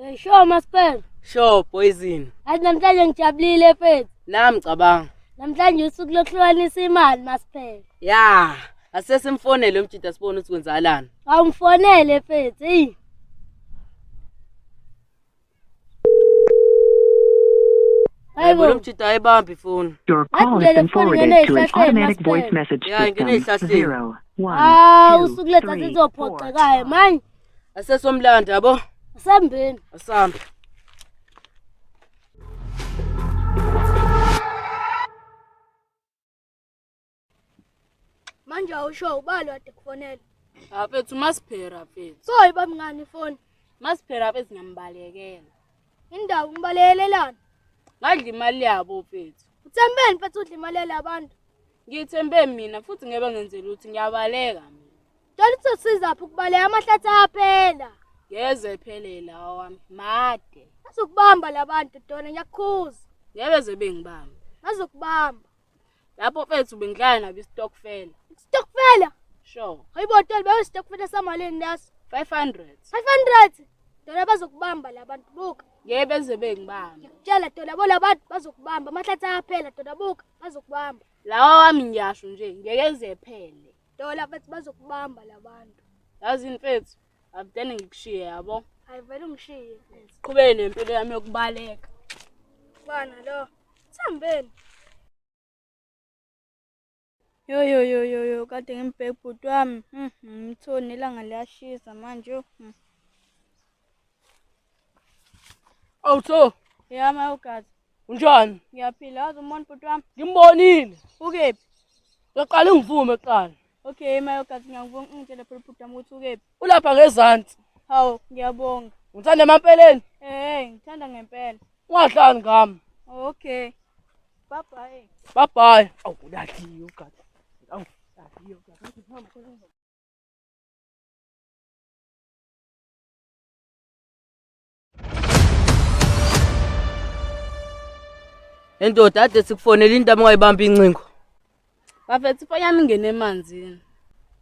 Eh, sure maspela. Sure poison. Athi namhlanje ngijabulile mfethu. Nami cabanga. Namhlanje usuku lokuhlukanisa imali maspela. Ya, asesimfonele umjita sibone ukuthi kwenzakalani. Awumfonele mfethu. Hey. Hayibo lo mjita ayibambi ifoni. Your call has been forwarded to an automatic voice message Yeah, ngene system. ey'hlahleni. Zero, one, hawu two, usuku lethu three, four. asizophoxekayo manje Asesomlanda yabo. sambeni Asambe. manje awusho ubalo ade kufonela afethu masiphera afethu so ibamngani ifoni masiphera afethu ngiyambalekela indawo ngibalekelelana ngadla imali yabo mfethu uthembeni mfethu udla imali yale abantu ngithembe mina futhi ngebe ngenzela ukuthi ngiyabaleka mina tshela ukuthi usiza phi ukubaleka amahlathi aphela ngeze phelela awami made azokubamba labantu dona ngiyakukhuza ngebe zebe ngibamba azokubamba lapho mfethu bengidlala nabo istokfela stokfela sure hayibo tol bayo stokfela samaleni laso 500 500 dona bazokubamba labantu buka ngeke beze bengibamba ngikutshela dona bo labantu bazokubamba amahlathi ayaphela dona buka bazokubamba lawa wami ngiyasho nje ngeke zephele dona mfethu bazokubamba labantu yazi mfethu akudene ngikushiye yabo ayivele ungishiye siqhubeke nempilo yami yokubaleka bana lo sihambeni yo yo yo yo yo kade ngimbheke bhuti wami hmm, ngimthoni ilanga liyashisa manje hmm. awutho yama ugazi Unjani? Ngiyaphila, wazi umbona ubhuti wami? Ngimbonile. Ukephi? Ngiyaqala ingivume kuqala. Okay, mayogazi ngiyakubonga ungitshele phela ubhuti wami ukuthi ukephi. Ulapha ngezansi. Hawu, ngiyabonga. Ngithanda emampeleni? Eh, ngithanda ngempela. Ungahlali ngami. Okay. Bye bye. Bye bye. Awu, ulahliwe ugathi. Awu, ulahliwe ugathi. Endoda ade sikufonela into amungayibamba incingo. Bafethu ifoni yami ingene emanzini.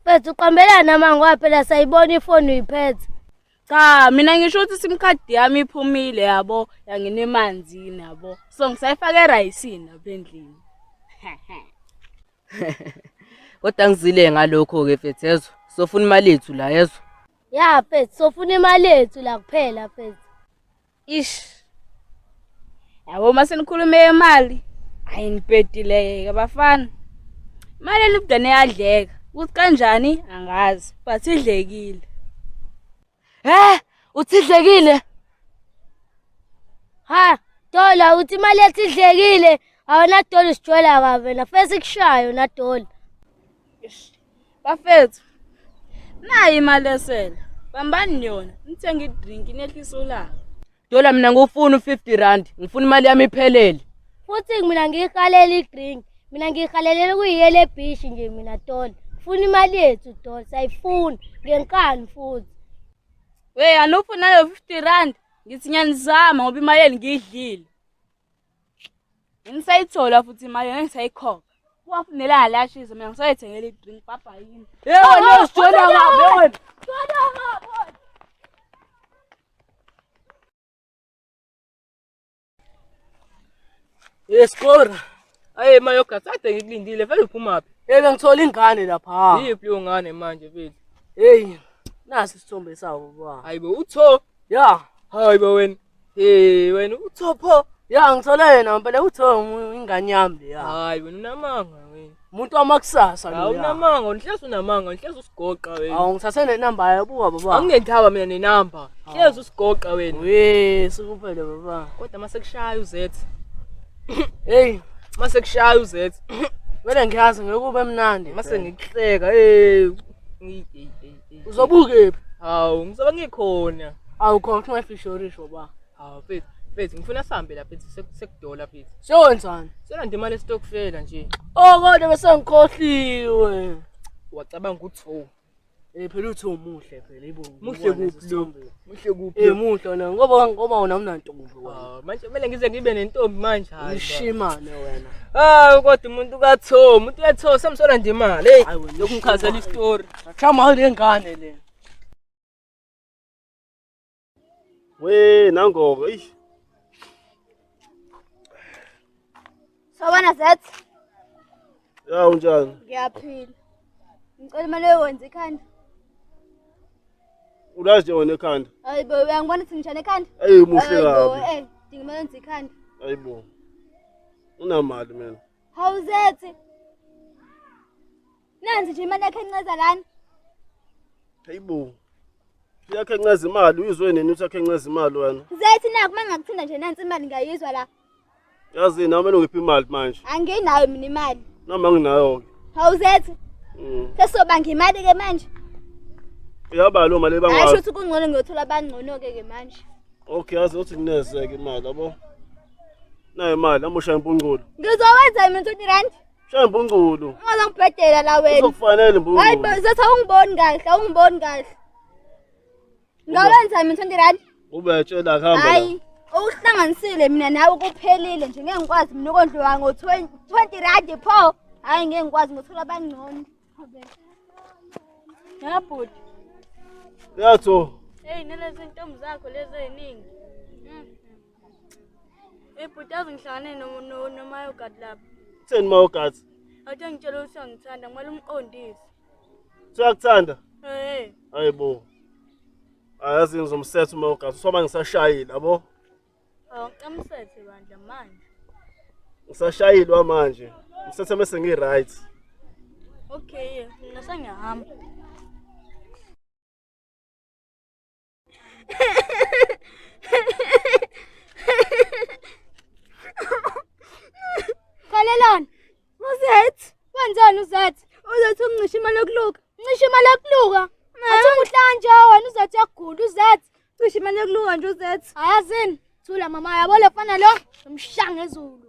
Bafethu uqambelana amango waphela sayibona ifoni uyiphethe. Cha mina ngisho ukuthi sim card yami iphumile yabo yangena emanzini yabo. So ngisayifaka erayisini lapha endlini. Kodwa ngizile ngalokho ke fethezwe. Sofuna imali yethu la yezwa. ya mfethu sofuna imali yethu la kuphela mfethu ish yabo uma senikhulume yemali hayi nibhedileke bafana imali elibudane yadleka ukuthi kanjani angazi but idlekile he uthi idlekile ha dola uthi imali yethu idlekile awona dola usijwela kabi wena fesi kushayo na dola Bafethu, nayi imali esele. Bambani yona, nithenge idrink nehlisa ulaka. Dola mina ngufuna u-50 rand, ngifuna imali yami iphelele. Futhi mina ngiyihalela idrink. Mina ngiyihalelela ukuyiyela ebhishi nje mina Dola. Funa imali yethu Dola, sayifuna ngenkani futhi. We, anufuna nayo 50 rand? Ngithi ngiyanizama ngoba imayeli ngiyidlile. ngisayithola futhi imali yona ngisayikhokha wafunela alashize mina ngisoyethengela idrink papa yini yebo no sithola ngabe wena sithola ngabe Yeskora. Aye mayoga sade ngikulindile vele uphuma phi? Hey bengithola ingane lapha. Yiphi leyo ngane manje mfethu? Hey nasi isithombe sawo baba. Hayibo utho. Ya. Hayibo wena. Eh wena uthopho ya ngithole yena ngempela utho ingane yami leya. Hayi wena unamanga wena. Umuntu wamakusasa lo. Awunamanga unhlezi unamanga unhlezi usigoqa wena. Awu ngithathe ne number yayo buka baba. Angingenthaba mina ne number. Hlezi usigoqa wena. We sikuphele baba. Kodwa mase kushaya uZethi. Hey mase kushaya uZethi. Vele ngiyazi ngeke ube mnandi. Mase ngikuhleka hey. Hey hey. uzobukephi hawu ngizobe ngikhona awu khona kuthiwa ifishorish baba hawu mfethu mfethu ngifuna sihambe la mfethu sekudola mfethu siyowenzani siyolanda imali esitokfela nje oh kodwa bese ngikhohliwe wacabanga ukuthi ho eh phela uthi umuhle phela ibo muhle kuphi lo Muhle kuphi? Eh muhle wena ngoba ngoba wena unantombi wena. Ah, manje kumele ngize ngibe nentombi manje hayi. Ushimane wena. Ah kodwa umuntu katho, umuntu yatho samsola nje imali. Hey, lokumkhazela istory. Chama le ngane le. We nangoko, eish. Sawubona Zet. Ya unjani? Ngiyaphila. Ngicela imali yowenza ikhanda. Ulazi nje wena ekhanda. Hayi bo uyangibona ukuthi ngishane ekhanda? Ayi muhle kabi. Eh, dinga imali yenza ikhanda. Hayi bo. Unamali mina. Hawu Zet. Nanzi nje imali yakhe enceza lana. Hayi bo. Yakhe enceza imali uyizwe nini uthi yakhe enceza imali wena? Zet naku mangakuthinda nje nansi imali ngiyayizwa la. Yazi nami ngiphi imali manje? Anginayo mina imali. Noma nginayo ke. Hawuzethe? Mm. Sesoba ngimali ke manje. Uyaba lo mali ebangwa. Ayisho ukuthi kungcono ngiyothola abangcono ke ke manje. Okay, yazi uthi kunezeke imali yabo. Nayo imali amusha impunculo. Ngizowenza mina 20 rand. Shaya impunculo. Ungazongibhedela la wena. Uzokufanele impunculo. Hayi, zethe awungiboni kahle, awungiboni kahle. Ngawulani Simon Thondirani? Ubetshela hamba. Hayi. Ukuhlanganisile mina nawe kuphelile nje ngeke ngikwazi mina ukondliwa ngo 20 20 rand pho. Hayi ngeke ngikwazi ngothola abangcono. Ya bhuti. Yatho. Hey nalezi ntombi zakho lezi eziningi. Hey bhuti yazi ngihlangane nomayogadi lapha. Kutheni mayogadi? Athe ngitshela ukuthi angithanda kumele umqondise. Uyakuthanda? Eh. Hayibo. Ayazi ngizomsetha umayogadi soba ngisashayile yabo. Awu ngiqamsethe bandla manje. Ngisashayilwa manje. Ngisethe mase ngi right. Okay, mina sengiyahamba. Khalelani. Uzethi. Wenzani uzethi? Uzethi uncisha imali yokuluka. Ncisha imali yokuluka. Athi umuhlanje wena uzethi yagula uzethi. Cisha imali yokuluka nje uzethi. Ayazini. Thula mama yabo lefana lo. Umshanga ezulu.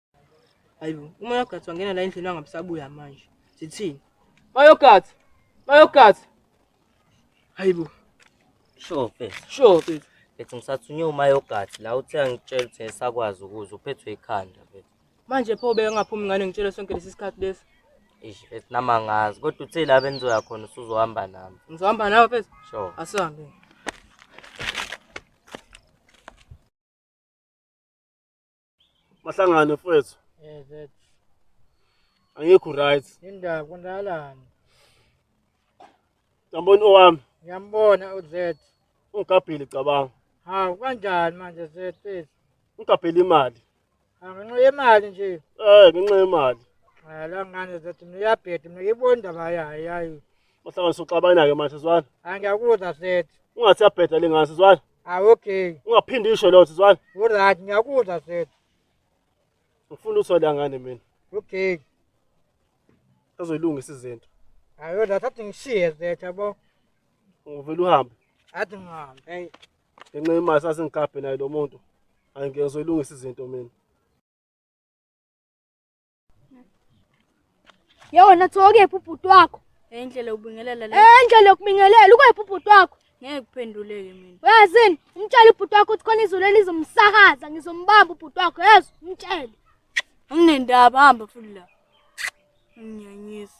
Hayibo, uma yogathi wangena la endlini wangabisabuya manje. Sithini? Mayogathi. Mayogathi. Hayibo. Sure, mfethu. Sure, mfethu. Mfethu ngisathunywe umayogathi la uthe angitshela ukuthi ngisakwazi ukuza uphethwe ikhanda mfethu. Manje pho beke ngaphumi ngane ngitshele sonke lesi sikhathi lesi. Eish mfethu nami angazi kodwa uthe la benizoya khona usuzohamba nami. Ngizohamba nawe mfethu. Sure. Asihambe. Mahlangane mfethu. Eh that. Angikho right. Indaba kwenzakalani? Ngiyambona owami. Ngiyambona uZet. Ungigabhile cabanga. Hawu kanjani manje Zet? Ungigabhile imali. Angenxa yemali nje. Eh ngenxa yemali. Eh la ngane Zet mina uyabheda mina ngiyibona indaba yayo yayo. Mahlangane soxabana ke manje sizwana. Angiyakuzwa Zet. Ungathi yabheda lengane sizwana. Ah okay. Ungaphindi isho lotho zwana. Alright ngiyakuzwa set. Ngifuna uthole ngane mina. Okay. Azoyilungisa izinto. Ayo la thathi ngishiye set yabo. Uvela uhambe. Athi ngihambe. Hey. Ngenxa yemali sasingigabhe naye lo muntu. Angeke ngizoyilungisa izinto mina. Yewona thokephi ubhuti wakho? Endlela yokubingelela le. Endlela yokubingelela ukwephi ubhuti wakho? Ngeke kuphenduleke mina. Uyazini? Umtshele ubhuti wakho ukuthi khona izulu elizomsakaza ngizombamba ubhuti wakho. Yezwa umtshele. Anginendaba hamba futhi la. Nginyanyisa.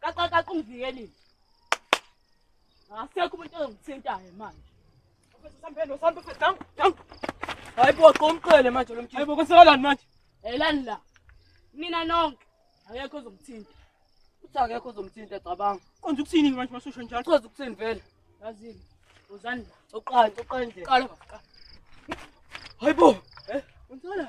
Kaqaqaqa ungivikeli. Asekho umuntu ongithintayo manje. Mfethu sambeni usambe mfethu down down. Hayi bo qomqele manje lo mjini. Hayi bo kusekalani manje? Elani la. Mina nonke akekho ozomthinta. Uthi akekho ozomthinta cabanga. Konje ukuthini manje masosha njalo? Uchaza ukuthini vele? Yazini. Uzani la. Uqala uqala nje. Qala bafika. Hayi bo. Eh? Unthola.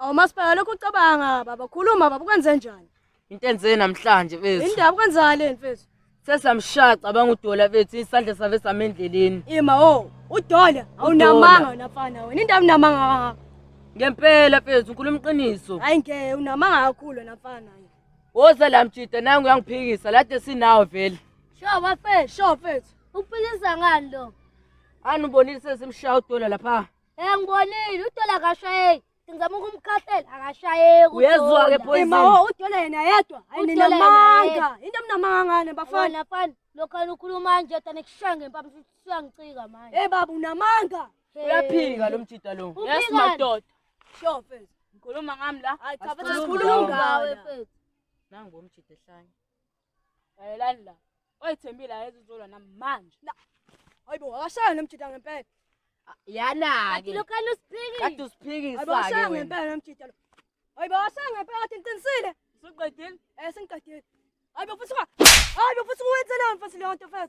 Awu masibheka lokho ucabanga baba khuluma baba kwenze njani? Into enze namhlanje bethu. Indaba kwenzakale mfethu. Sesamshaya cabanga udola bethu isandla save samendleleni. Ima o udola awunamanga wena mfana wena indaba unamanga kangaka. Ngempela mfethu ukhuluma iqiniso. Hayi ngeke unamanga kakhulu wena mfana. Woza la mjida nangu uyangiphikisa lade sinawo vele. Sho bafe sho mfethu. Uphikisa ngani lo? Anubonile sesimshaya udola lapha. Eh ngibonile udola akashayeki. Ngizama ukumkhahlela akashayeki. Uyezwa ke boy. Imawo udola yena yedwa. Hayi nina manga. Into mnamanga ngane bafana. Bafana lokho anikhuluma nje tani kushaya ngempama siyangicika manje. Eh baba unamanga. Uyaphika lo mjita lo. Yes madoda. Sure mfethu. Ngikhuluma ngami la. Hayi cha mfethu sikhuluma ngawe mfethu. Nangu umjita ehlanye. Lalelani la. Oyithembile ayeze uzolwa nami manje. Hayibo akashaya nomjita ngempela. Yana Kanti ke. lokani usiphikile. Kade Hayibo usiphikisa akashaya ke wena. ngempela nomjita lo. Hayibo akashaya ngempela kade ngiqinisile. Usuqedile? Eh sengiqedile. Hayibo futhi unga. Hayibo futhi uwenzela mfana leyo nto mfana.